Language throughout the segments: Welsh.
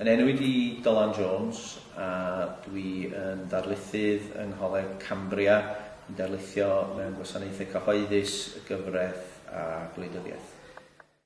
Yn enw i di Dylan Jones a dwi yn darlithydd yng Ngholeg Cambria, yn darlithio mewn gwasanaethau cyhoeddus, gyfraith a gwleidyddiaeth.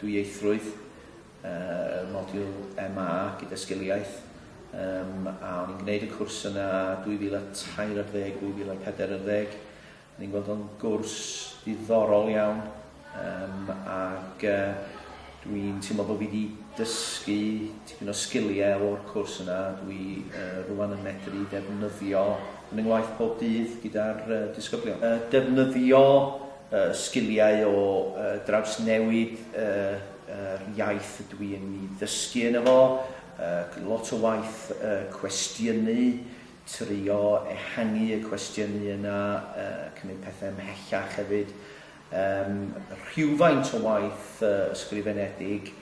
Dwyieithrwydd, y modiwl MA gyda Sgiliaeth, yym, a o'n i'n gwneud y cwrs yna 2003 ar ddeg, 2004 ar ddeg. O'n i'n gweld o'n gwrs ddiddorol iawn, yym, ac yy, dwi'n teimlo bod fi wedi dysgu tipyn o sgiliau o'r cwrs yna, dwi yy, rwan yn medru defnyddio yn yng ngwaith pob dydd gyda'r yy, disgyblion. Yy, defnyddio y sgiliau o drawsnewid yr iaith ydw i yn ei ddysgu yno fo, lot o waith cwestiynu, trio ehangu y cwestiynu yna, cymryd pethau ymhellach hefyd, rhywfaint o waith ysgrifenedig,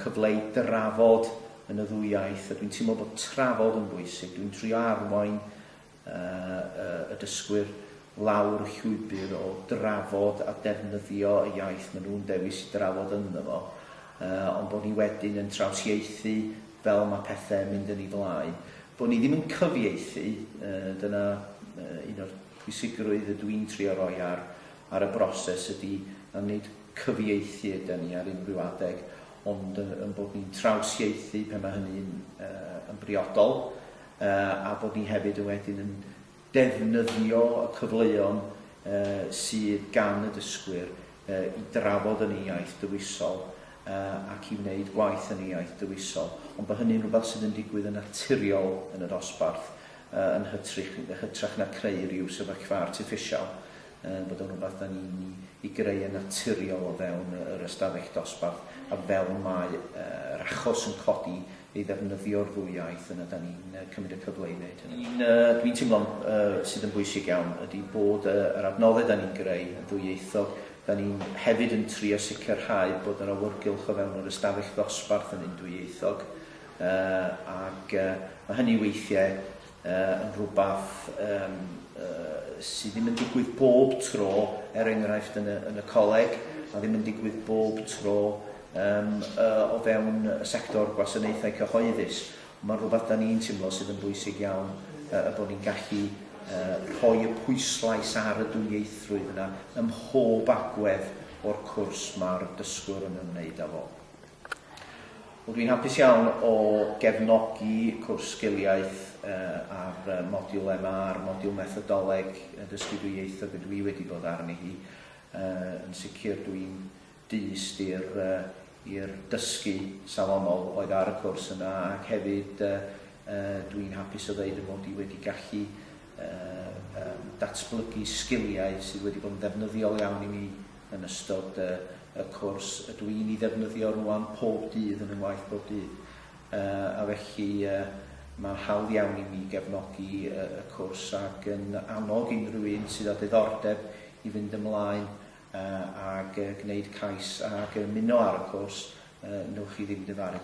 cyfle i drafod yn y ddwy iaith a dwi'n teimlo bod trafod yn bwysig, dwi'n trio arwain y dysgwyr lawr y llwybr o drafod a defnyddio y iaith maen nhw'n dewis i drafod ynddo fo, ond bod ni wedyn yn trawsieithu fel mae pethau'n mynd yn ei flaen. Bod ni ddim yn cyfieithu, dyna un o'r pwysigrwydd ydw i'n trio roi ar ar y broses ydy, na nid cyfieithu ydan ni ar unrhyw adeg, ond yn bod ni'n trawsieithu pan mae hynny'n yn briodol, a bod ni hefyd yn wedyn yn defnyddio y cyfleon sydd gan y dysgwyr i drafod yn ei iaith dywisol ac i wneud gwaith yn ei iaith dywisol, ond bod hynny'n rhywbeth sydd yn digwydd yn naturiol yn y dosbarth yn hytrach na creu rhyw sefyllfa artiffisial, bod o'n rhywbeth da ni'n ei greu yn naturiol o fewn yr ystafell dosbarth a fel mae yr achos yn codi i ddefnyddio'r ddwy iaith yna 'dan ni'n yy cymryd y cyfle i wneud hynny. Un yy dwi'n teimlo'n yy sydd yn bwysig iawn ydi bod yy yr adnodde 'dan ni'n greu yn ddwyieithog, 'dan ni'n hefyd yn trio sicrhau bod yr awyrgylch o fewn yr ystafell ddosbarth yn un dwyieithog yy ag yy ma' hynny weithie yn rhywbeth sydd ddim yn digwydd bob tro, er enghraifft yn y, yn y coleg, a ddim yn digwydd bob tro um, o fewn y sector gwasanaethau cyhoeddus. Mae'n rhywbeth da ni'n teimlo sydd yn bwysig iawn uh, y bod ni'n gallu uh, rhoi y pwyslais ar y dwyieithrwydd yna ym mhob agwedd o'r cwrs mae'r dysgwr yn ymwneud â fo. Wel dwi'n hapus iawn o gefnogi cwrs sgiliaeth ar modiwl MA a'r modiwl methodoleg dysgu dwy ieithog y dwi wedi bod arni hi. Yn sicr dwi'n dyst i'r i'r dysgu safonol oedd ar y cwrs yna ac hefyd dwi'n hapus o ddeud fy mod i wedi gallu datblygu sgiliau sydd wedi bod yn ddefnyddiol iawn i mi Yn ystod y cwrs, ydw i'n ei ddefnyddio rŵan pob dydd yn fy ngwaith bob dydd, a felly mae'n hawdd iawn i mi gefnogi y cwrs ac yn annog unrhyw un sydd â diddordeb i fynd ymlaen ag gwneud cais ac ymuno ar y cwrs, wnewch chi ddim difaru.